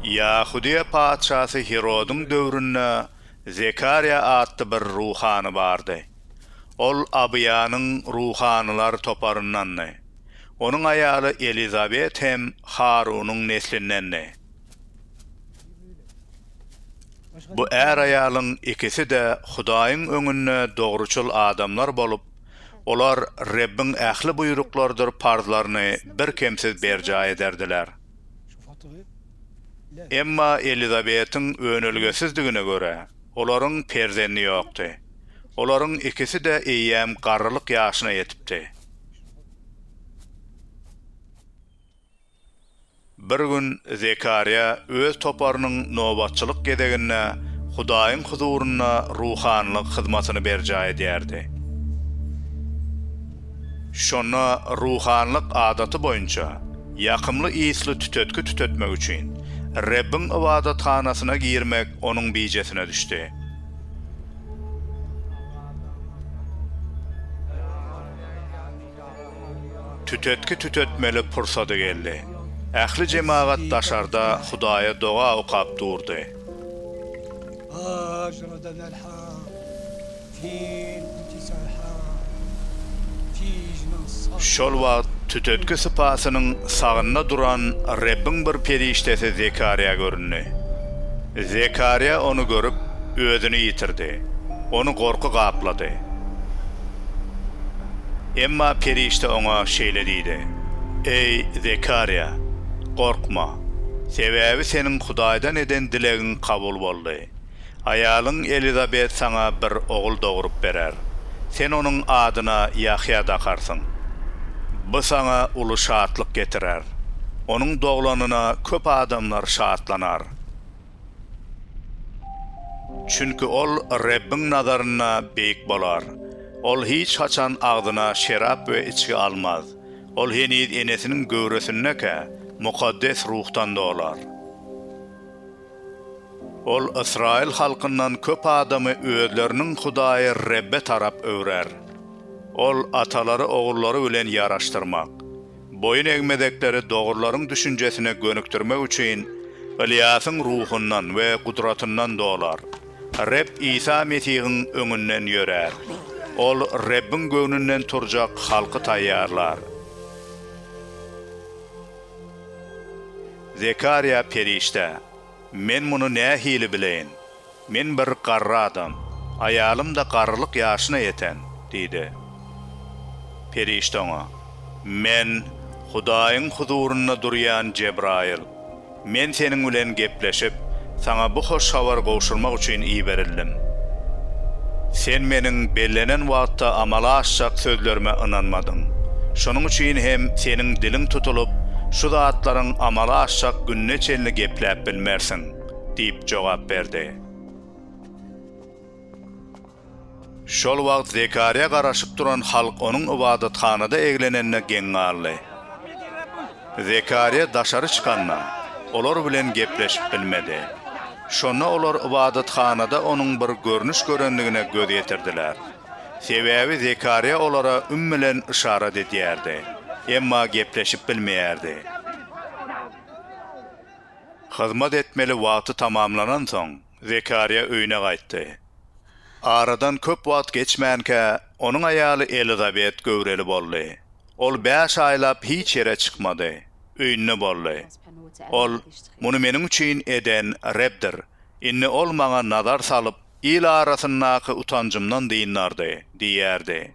Ýahudyýa patyşasy Hirodyň döwründe Zekarýa atly bir ruhany bardy. Ol Abyýanyň ruhanylar toparyndandy. Onuň aýaly Elizabet hem Harunyň neslindendi. Bu är-aýalyň ikisi-de Hudaýyň öňünde dogruçyl adamlar bolup, Olar Rebbiň ähli buýruklarydyr parzlaryny birkemsiz berjaý ederdiler. Emma Elizabetiň önelgesizdigine görä, olaryň perzendi ýokdy. Olaryň ikisi-de eýýäm garrylyk ýaşyna ýetipdi. Bir gün Zekarýa öz toparynyň nobatçylyk gezeginde Hudaýyň huzurynda ruhanylyk hyzmatyny berjaý edýärdi. Şonda ruhanylyk adaty boýunça ýakymly ysly tütetgi tütetmek üçin Rebbiň ybadathanasyna girmek onuň bijesine düşdi. Tütetgi tütetmeli pursady geldi. Ähli jemagat daşarda Hudaýa doga okap durdy. Şol wagt tütetgi sypasynyň sagynda duran Rebbiň bir perişdesi Zekarýa göründi. Zekarýa ony görüp, özüni ýitirdi. Ony gorky gaplady. Emma perişde oňa şeýle diýdi, Eý, Zekarýa, gorkma, sebäbi seniň Hudaýdan eden dilegiň kabul boldy. Aýalyň Elizabet saňa bir ogul dogrup berer. Sen onuň adyna Ýahýa dakarsyň. Bu saňa uly şatlyk getirer. Onuň doglanyna köp adamlar şatlanar. Çünki ol Rebbiň nazarynda beýik bolar. Ol hiç haçan agzyna şerap we içgi almaz. Ol heniz enesiniň göwresindekä mukaddes ruhdan dolar. Ol ysraýyl halkyndan köp adamy özleriniň Hudaýy Rebbe tarap öwrer. Ol atalary ogullary bilen ýaraşdyrmak. Boýun egmezekleri dogrylaryň düşünjesine gönükdirmek üçin Ylýasyň ruhundan we gudratyndan dolar. Reb Isa Mesihiň öňünden ýörär. Ol Rebbiň göwnünden turjak halky taýýarlar. Zekarýa perişde. Men muny nähili bileýin? Men bir garry adam, aýalym-da garrylyk ýaşyna ýeten, diýdi. Perişde oňa, Men Hudaýyň huzurynda durýan Jebraýyl. Men seniň bilen gepleşip, saňa bu hoş habary gowşurmak üçin iberildim. Sen meniň bellenen wagtda amala aşjak sözlerime ynanmadyň. Şonuň üçin hem seniň diliň tutulyp, şu zatlaryň amala aşjak gününe Neçelini gepläp bilmersiň, diýip jogap berdi. Şol wagt Zekarýa garaşyp duran halk onuň ybadathanada eglenenine geň galdy. Zekarýa daşary çykanda, olar bilen gepleşip bilmedi. Şonda olar ybadathanada onuň bir görnüş görendigine göz ýetirdiler. Sebäbi Zekarýa olara üm bilen yşarat edýärdi, emma gepleşip bilmeýärdi. Hyzmat etmeli wagty tamamlanansoň, Zekarýa öýüne gaýtdy. Aradan köp wagt geçmänkä, onuň aýaly Elizabet göwreli boldy. Ol bäş aýlap hiç ýere çykmady, öýünde boldy. Ol, Muny meniň üçin eden Rebdir. Indi Ol maňa nazar salyp, Il arasyndaky utanjymdan dyndardy, diýerdi.